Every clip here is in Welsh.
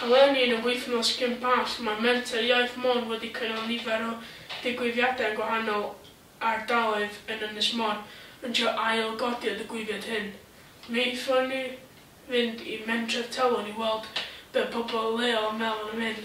Eleni, yn y wythnos cyn Pasg, mae Menter Iaith Môn wedi cynnal nifer o ddigwyddiadau yn gwahanol ardaloedd yn Ynys Môn, yn trio ail-godi y digwyddiad hyn. Mi aethon ni fynd i Mentref Talwrn i weld be pobl leol yn meddwl am hyn.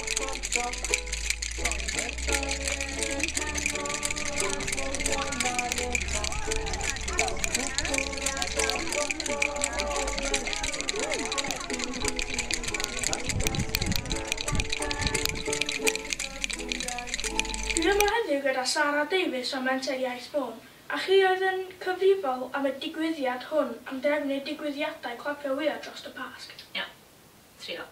Dwi'n yma heddiw gyda Sara Davies o Menter Iaith Môn, a chi oedd yn cyfrifol am y digwyddiad hwn am drefnu digwyddiadau clapio wya drost y Pasg. Iawn. Trio.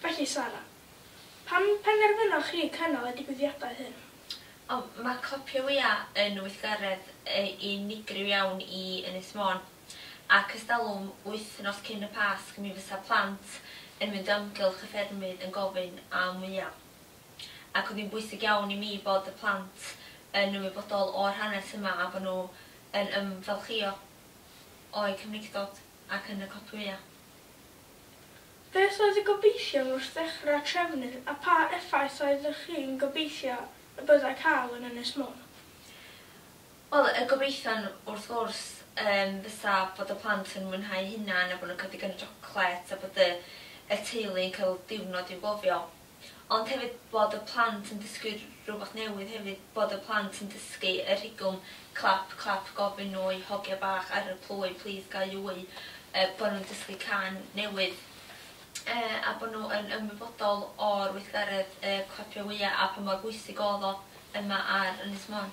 Felly, Sara, pam penderfynoch chi cynnal y digwyddiadau hyn? O, mae Clopio Wya yn weithgaredd unigryw iawn i Ynys Môn, ac ers talwm, wythnos cyn y Pasg, mi fysa plant yn mynd o amgylch y ffermydd yn gofyn am wya. Ac oedd hi'n bwysig iawn i mi bod y plant yn ymwybodol o'r hanes yma a bod nhw yn ymfalchïo o'u cymreictod ac yn y clopio wya. Beth oedd y gobeithion wrth ddechrau trefnu a pha effaith oeddech chi'n gobeithio y byddai cael yn Ynys Môn? Wel, y gobeithion wrth gwrs yym fysa bod y plant yn mwynhau hunan a bod nhw'n cael digon o siocled a bod y y teulu'n cael diwrnod i'w gofio. Ond hefyd bod y plant yn dysgu rhywbeth newydd hefyd, bod y plant yn dysgu y rhigwm clap clap gofyn oi hogia bach ar y plwy plîs ga i wy, yy bod nhw'n dysgu cân newydd yy a bod nhw yn ymwybodol o'r weithgaredd yy clapio wya a pa mor bwysig o'dd o yma ar Ynys Môn.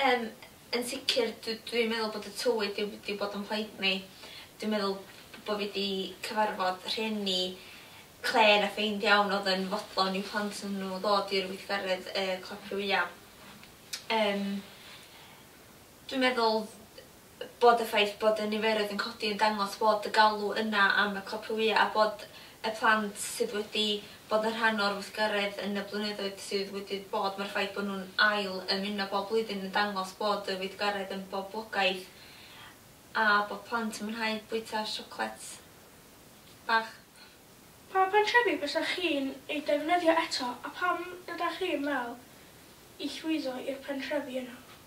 Yym yn sicr dw- dwi'n meddwl bod y tywydd 'di w- 'di bod yn plaid ni. Dwi'n meddwl b- bo' fi 'di cyfarfod rhieni clên a ffeind iawn o'dd yn fodlon i'w plant n- nw ddod i'r weithgaredd yy Clocfriwya. Yym dwi'n meddwl bod y ffaith bod y niferoedd yn codi yn dangos bod y galw yna am y copïau a bod y plant sydd wedi bod yn rhan o'r weithgaredd yn y blynyddoedd sydd wedi bod, mae'r ffaith bod nhw'n ail ymuno bob blwyddyn yn dangos bod y weithgaredd yn boblogaidd a bod plant yn mwynhau bwyta siocled bach. Pa bentrefi bysach chi'n eu defnyddio eto a pam ydach chi'n meddwl i llwyddo i'r pentrefi yna?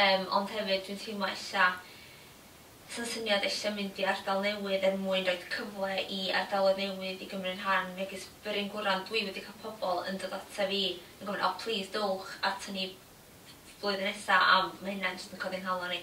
Yym ond hefyd dwi'n teimlo ella sa'n syniad ella mynd i ardal newydd er mwyn roid cyfle i ardaloedd newydd i gymryd rhan megis Bryn Gwran dwi wedi cael pobl yn dod ata fi yn gofyn o plîs dowch ata ni flwyddyn nesa am ma' hynna'n jyst yn codi nghalon i.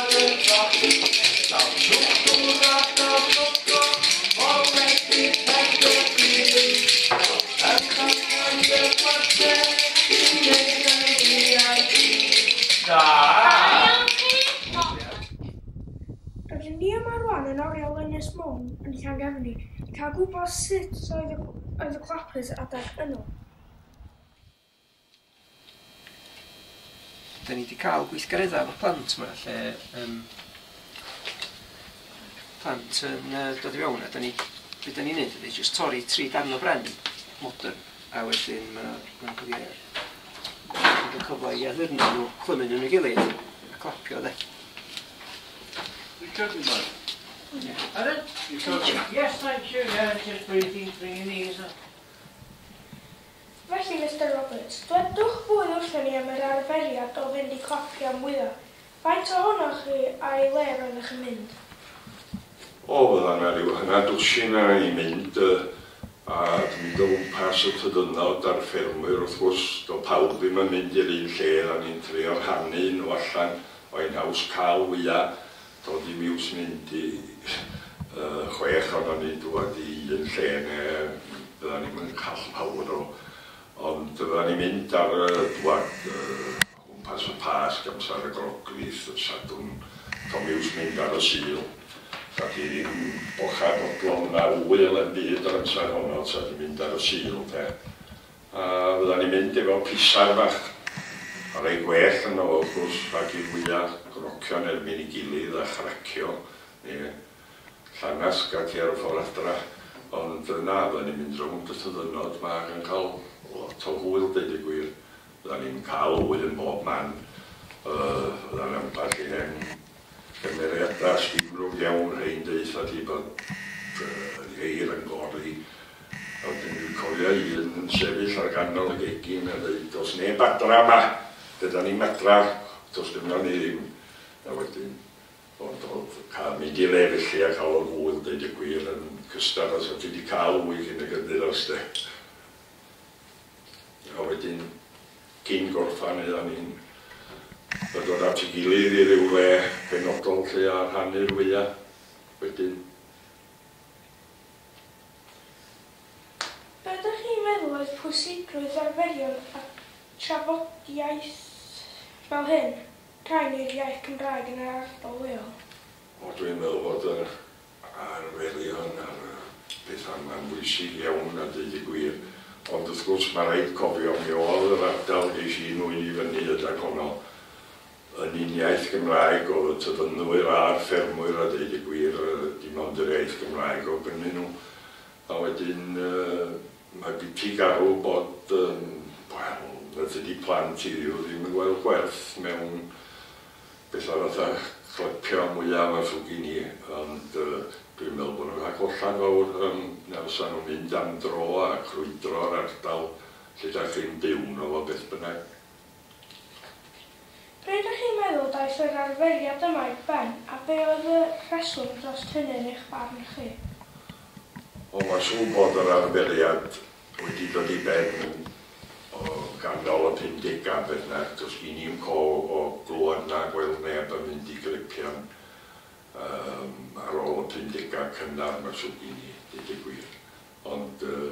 Rydyn ni yma rwan yn oriel Ynys Môn yn Llangefni i cael gwybod sut oedd y clapers adeg yno. Dan ni 'di cael gweithgareddau efo plant 'ma lle yym plant yn yy dod i fewn a dan ni... be dan ni'n wneud ydy jyst torri tri darn o bren modern a wedyn ma' nhw'n cael eu... yn cael cyfle i addurno nhw, clymu nhw yn ei gilydd a clapio de. Recording mode. Pardon? Recording. Yes, thank you, yeah, just breathing through your nose. Felly, Mister Roberts, dwedwch fwy wrthon ni am yr arferiad o fynd i coffi am fwya. Faint ohonoch chi a i le roeddech yn mynd? O, fydda na ryw hanner dwsin a i mynd, a di mynd o wmpas y tŷ dynod a'r ffermwyr wrth gwrs. Do pawb ddim yn mynd i'r un lle, da ni'n trio rhannu nhw allan, o ein haws cal fwya. Dod i miws mynd i chwech ohonon ni dŵad i un lle ne fyddan ni'm yn call pawb nôl ond fyddan ni'n mynd ar y dŵad o gwmpas y Pasg amsar y Groglith y Sadwrn do miws mynd ar y Sul ta di ddim bochad fodlon na ŵyl em byd yr amsar honno ta di mynd ar y Sul de A fyddan ni'n mynd efo pisaer bach. A rei gwell yno fo wrth gwrs, rhag i'r wya grocio yn erbyn ei gilydd a chracio, neu llangasg ac e ar y ffor adra. Ond na, fyddan ni'n mynd rownd y tyddynod ma ac yn cael lot o hwyl deud y gwir. Fyddan ni'n cael hwyl yn bob man. Yy, fyddan ambell i hen Cymeriadau llifnod iawn ein deutha ti bod y geir yn gori a wedyn dwi'n cofio un yn sefyll ar ganol y gegin a deud does neb adra yma, be da ni'n adra, does gynno ni ddim a wedyn ond oedd cael mynd i le felly a cael y gŵyn deud y gwir yn cystar os oedd ti di cael ŵyn cyn y gynddyros de a wedyn Cyn gorffen aethon ni'n dod at ei gilydd i ryw le penodol lle a rhannu'r wya wedyn. Be dych chi'n meddwl oedd pwysigrwydd arferion a trafodiaeth fel hyn, cael neu'r iaith Gymraeg yn yr ardal leol? O dwi'n meddwl bod yr ar welian ar bethau, mae'n bwysig iawn a deud y gwir, ond wrth gwrs mae rhaid cofio mi oedd yr ardal ges i'n nwy'n i fyny ydag honno yn un iaith Gymraeg oedd y tyfynnwyr a'r ffermwyr a deud y gwir dim ond yr iaith Gymraeg oedd gynnyn nhw a wedyn mae biti garw bod yym wel fedri di plant i Dduw ddim yn gweld gwerth mewn Beth arall a chlepia mwyaf a llwgu ni ond dwi'n meddwl bod nhw'n rhag hollad fawr yym os a nhw'n mynd am dro a crwydro'r ardal lle dach chi'n byw yno fo beth bynnag. Be dych chi'n meddwl daeth yr arferiad yma i ben a be oedd y rheswm drost hynny yn eich barn chi? O ma'n siŵr bod yr arferiad Wedi dod i ben o ganol y pumdegau, beth bynnag, does gen i 'im call o glywed na gweld neb yn mynd i glypian yym ar ôl y pumdegau cynnar 'ma sydd gen i, deud y gwir. Ond yy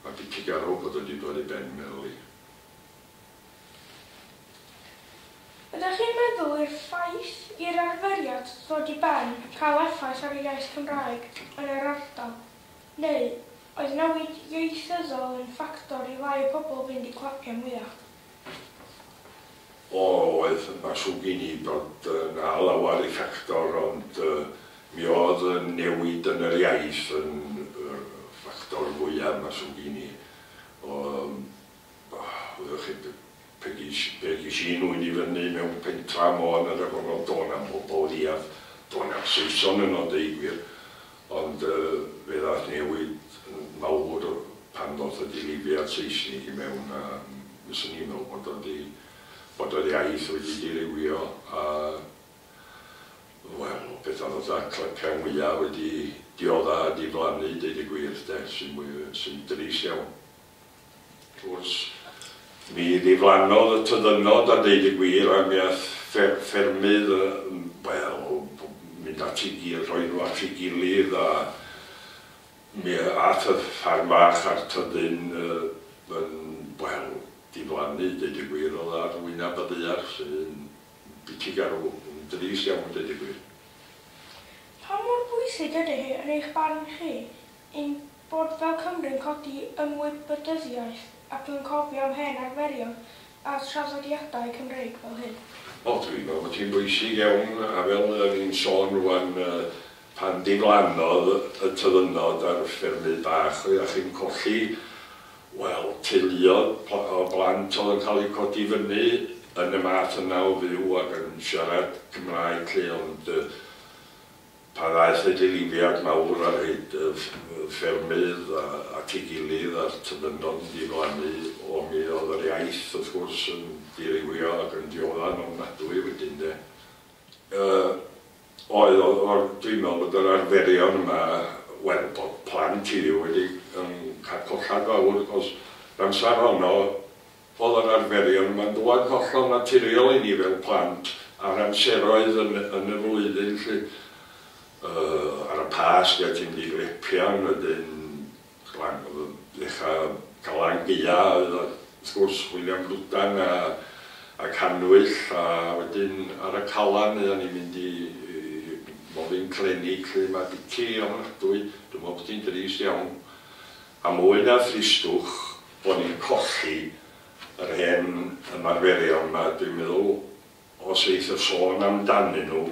mae dipyn garw bod o wedi dod i ben, meddwl i. Ydych chi'n meddwl i'r ffaith i'r arferiad ddod i ben cael effaith ar y iaith Cymraeg yn yr ardal? Neu oedd newid ieithyddol yn ffactor i lai pobl fynd i clapiau mwyach? O, oedd. Mae'n siwr gen i bod 'na lawer i ffactor ond mi oedd y newid yn yr iaith yn ffactor fwya, mae'n siwr gen i. O, wyddoch chi, Pe geis, pe geis un ŵyn i fyny mewn pentra Môn yr afon o'dd do' na'm pobol leiaf, do' na'm Saeson yno deu gwir, ond yy fe ddath newid yn fawr pan ddoth y dirywiad Seisnig i mewn a mi swn i'n me'wl bod o 'di, bod yr iaith wedi dirywio a wel petha fatha clyca ngwya wedi diodda a diflannu deud y gwir de, sy'n mwy, sy'n drist iawn. Wrth mi ddiflannodd y tyddynnod a deud y gwir ac mi aeth ffermydd yn wel mynd at i gilydd, rhoi nhw at i gilydd a mi aeth y ffarm fach a'r tyddyn yn wel diflannu deud y gwir oedd ar wyneb y ddaear sy'n biti garw, yn drist iawn deud y gwir. Pa mor bwysig ydy hi yn eich barn chi Ein bod fel Cymry'n codi ymwybydyddiaeth ac yn cofio am hen arferion a thraddodiadau Cymreig fel hyn. O, dwi'n meddwl bod hi'n bwysig iawn, a fel o'n i'n sôn rŵan, pan diflannodd y tyddynod ar ffermydd bach, oeddach chi'n colli, wel, teuluoedd o blant oedd yn cael eu codi fyny yn y math yna o fyw ac yn siarad Cymraeg 'lly, ond Pan ddaeth y dilyfiant mawr ar hyd y ffermydd at ei gilydd a'r tybydlon diflannu o mi oedd yr iaith wrth gwrs yn dirywio ac yn diodda'n ofnadwy wedyn de. Yy oedd oedd oedd dwi'n meddwl bod yr arferion yma wel bod plant i fi wedi yn cael collad fawr wrth gwrs yr amser honno Oedd o'n arferion yma'n dŵad hollol naturiol i ni fel plant ar amseroedd yn yn y flwyddyn 'lly. Yy ar y Pasg a ti'n mynd i Glepian wedyn Glan- yy ddechra Galan Gaea oedd o wrth gwrs William Bludan a a Cannwyll a wedyn ar y Calan oeddan ni'n mynd i i Molin Clenig 'lly. Mae biti ofnadwy, dwi me'wl bo' ti'n drist iawn. A mwy na thristwch bo ni'n colli yr hen ymarferion ma, dwi'n meddwl os eith y sôn am danyn nhw,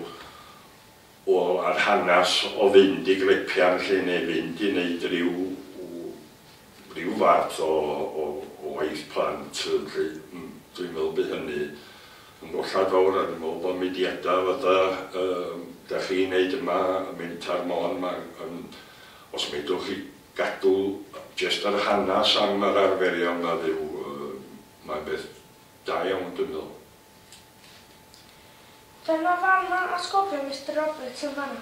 wel yr hanas o fynd i grepian lly neu fynd i neud ryw ryw fath o o o waith plant lly, dwi'n meddwl by hynny yn gollad fawr a dwi'n meddwl bo mudiada fatha yy dach chi'n neud yma, Mentor Môn ma yn os medrwch chi gadw jest yr hanas am yr arferion na dduw mae'n beth da iawn dwi'n meddwl. Dyna fan ma atgofion Mister Roberts yn fanna,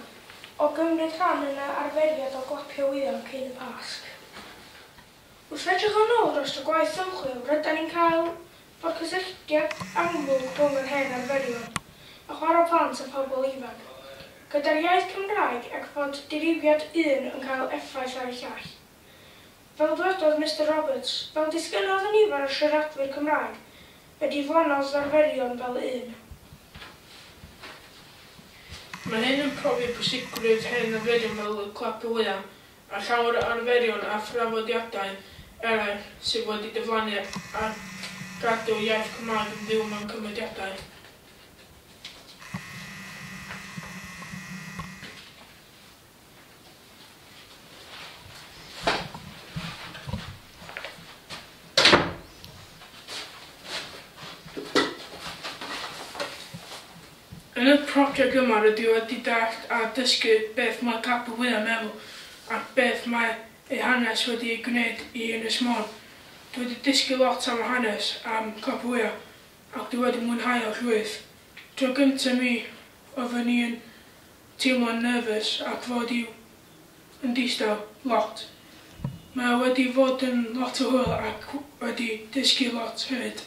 o gymryd rhan yn y arferiad o glapio wyddon cyn y Pasg. Wrth edrych yn ôl drost y gwaith ymchwil rydan ni'n cael Mae'r cysylltiad amlwg rhwng yr hen arferion a chwarae plant a phobl ifanc, gyda'r iaith Cymraeg ac fod dirywiad un yn cael effaith ar y llall. Fel dwedodd Mister Roberts, fel disgynnodd y nifer o siaradwyr Cymraeg y diflannodd ddarferion fel un. Mae hyn yn profi pwysigrwydd hen arferion fel y clap y wyau, a llawer o arferion a thraddodiadau eraill sydd wedi diflannu ar gadw iaith Cymraeg yn fyw mewn cymediadau. Yn y project yma rydw i wedi dallt a dysgu beth mae Capel Fwya yn meddwl ac beth mae ei hanes wedi ei gwneud i Ynys Môn. Dwi wedi dysgu lot am yr hanes am Capel Fwya ac dwi wedi mwynhau o llwyth. Tro gynta mi oeddwn i yn teimlo'n nervous ac fod i'w yn distaw lot. Mae wedi fod yn lot o hwyl ac wedi dysgu lot hefyd.